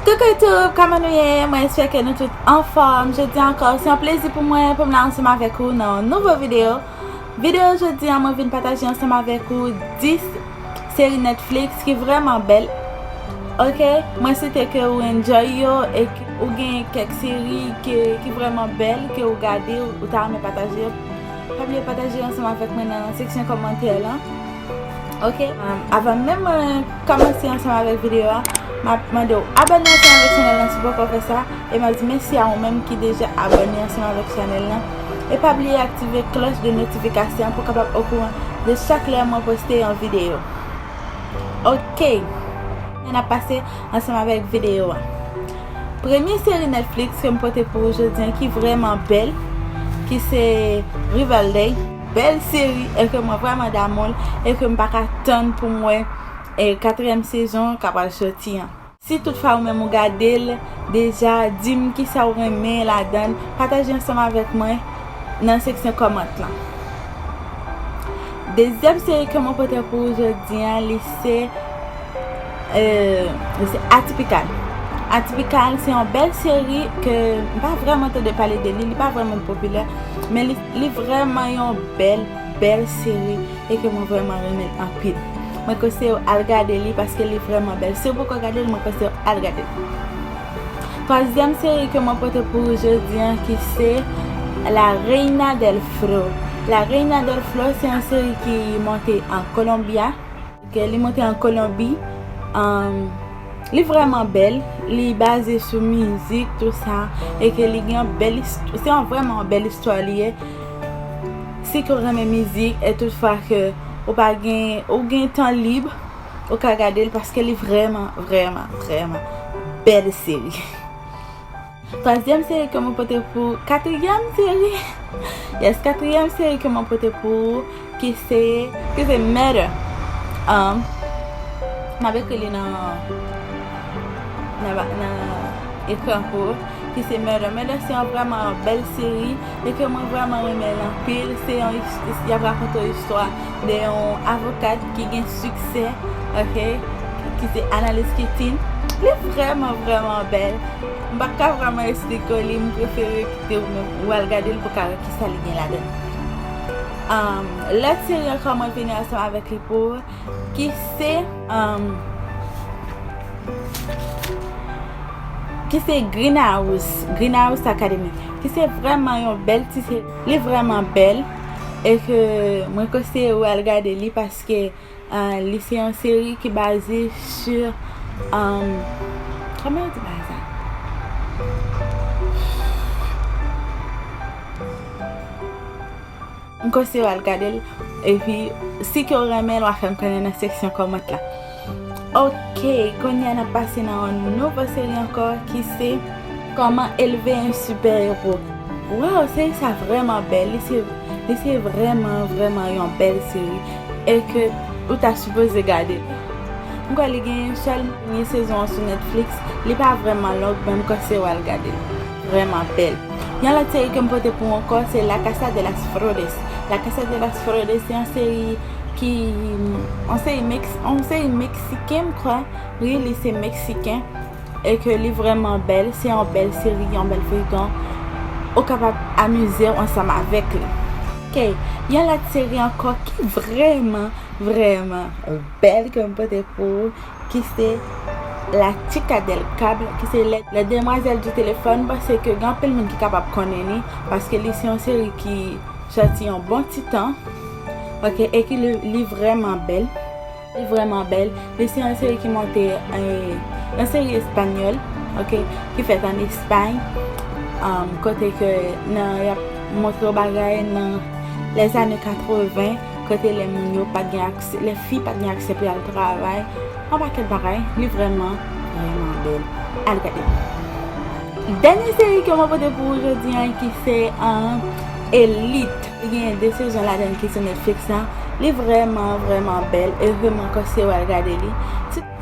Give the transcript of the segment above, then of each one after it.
Coucou tout, kòman nou ye? Mwen espè ke nou tout anfòm. Jodi an ankò, se yon plezi pou mwen pou m la ansanm avèk ou nan yon nouvo videyo. Videyo jodi an mwen vin pataje ansanm avèk ou 10 seri Netflix ki vrèman bèl. Ok, mwen swete ke ou enjoy yo e ke ou gen kèk seri ki vrèman bèl ke ou gade ou ta renmen pataje yo. Pa bliye pataje yo ansanm avèk mwen nan seksyon kòmantè lan. Ok avan menm mwen kòmanse ansanm avèk videyo a map mande ou abòne ansanm avèk chanèl lan si poko fè sa e map di mèsi a ou menm ki deja abòne ansanm avèk chanèl lan e pa bliye aktive klòch de notifikasyon pou kapab okouran de chak lè mwen poste yon videyo ok an ap pase ansanm avèk videyo a premye seri Netflix kem pote pou ou jodi an ki vrèman bèl ki se Riverdale. Bèl seri e ke mwen vrèman damoul e ke m pa ka tann pou m wè katriyèm sezon ka pral soti an. Si tout fwa ou menm ou gade l deja di m kisa ou renmen ladan l pataje ansanm avèk mwen nan seksyon kòmant lan. Dezyèm seri ke mwen pote pou ou jodi an li se Atypical. Atypical se yon bèl seri ke m pa vrèman tande pale de li, li pa vrèman popilè men li. Li vrèman yon bèl bèl seri e ke mwen vrèman renmen l anpil. Mwen konseye w al gade li paske li vrèman bèl. Si w poko gade l mwen konseye w al gade l. Twazyèm seri ke mwen pote pou ou jodi an ki se La Reina del Flo. La Reina del Flo se yon seri ki monte an Colombia. Ke li monte an Kolonbi, li vreman bel, li baze sou mizik tout sa, e ke li gen yon bel istwa, se yon vreman yon bel istwa li ye, si ke ou renmen mizik, e tout fwa ke ou pa gen, ou gen tan lib, ou ka gade l, paske li vreman, vreman, vreman, bel seri. Twazyèm seri ke mwen pote pou ou, katriyèm seri, yes, katriyèm seri ke mwen pote pou ou, ki se, ki se Matter. M ap ekri li nan, nan ekran pou ou, ki se Matter. Matter se yon vrèman bèl seri, e ke mwen vrèman renmen l anpil. Se yon, y ap rakonte yon istwa. de yon avokat ki gen siksè ok ki se Analis Kitin li vrèman vrèman bèl m pa ka vrèman esplike w li m prefere kite w menm ou al gade l pou w ka wè kisa li gen ladan l lè Tiryen kòman vini ansanm avèk li pou ou ki se ki se Green House Green House Academy ki se vrèman yon bèl ti Li vreman bel e ke mwen konseye ou al gade li paske euh, li se yon seri ki baze sur um, koman yo di bay sa? M konseye ou al gade l epi si ke ou renmen l wa fè m konnen nan seksyon comment la. Ok konya nap pase nan yon nouvo seri ankò ki se Koman elve yon super héros Waw seri sa vrèman bèl li se li se vrèman vrèman yon bèl seri e ke ou ta sipoze gade li m kwè li gen yon sèl premye sezon an sou Netflix li pa vrèman long men m kose w al gade l vrèman bèl yon lòt seri ke m pote pou ou ankò se La Casa de las Flores La Casa de las Flores se yon seri ki on se yon meksiken m kwè wi li se meksiken e ke li vreman bèl se yon bèl seri yon bèl feyton ou kapab amize w ansanm avèk li ok yon lòt seri ankò ki vreman vreman bèl ke m pote pou ou ki se la chica del cable ki se la demoiselle du téléphone pase ke gen anpil moun ki kapab konnen li paske li se yon seri ki sòti yon bon ti tan Ok eki li vreman bel. Li vreman bel. Li se yon seri ki monte yon seri espanyol ok ki fet an espany kote ke nan yap montre yo bagay nan les anne 80 kote le moun yo pat gen akse le fi pat gen akse pou yal travay yon paket bagay li vreman vreman bel. Al gade. Denye seri ke mwen pote pou ou jodi an ki se an elit. Li genyen 2 sezon ladann ki sou Netflix la. Li vrèman, vrèman bèl e vre mwen konseye w al gade li.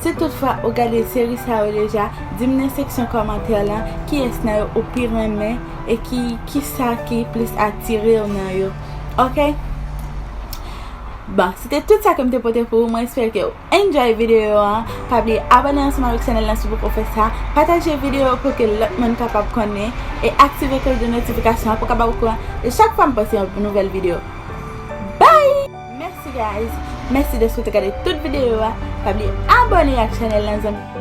Si tout fwa ou gade seri sa yo deja, di m nan seksyon kòmantè lan kiyès nan yo ou pi renmen e ki kisa ki plis atire w nan yo ok. Bon, se te tout sa ke m te pote pou ou, mwen espere ke. Enjoy video an, pa bliye abone ansanm avèk chanèl lan si w poko fè sa, pataje video pou ke lòt moun kapab konnen, e aktive kloch de notifikasyon an pou w ka ba ou kouran de chak fwa m poste yon nouvèl video. Bye! Mèsi guys, mèsi dèske w te gade tout video a, pa bliye abone ak chanèl lan zanmi m.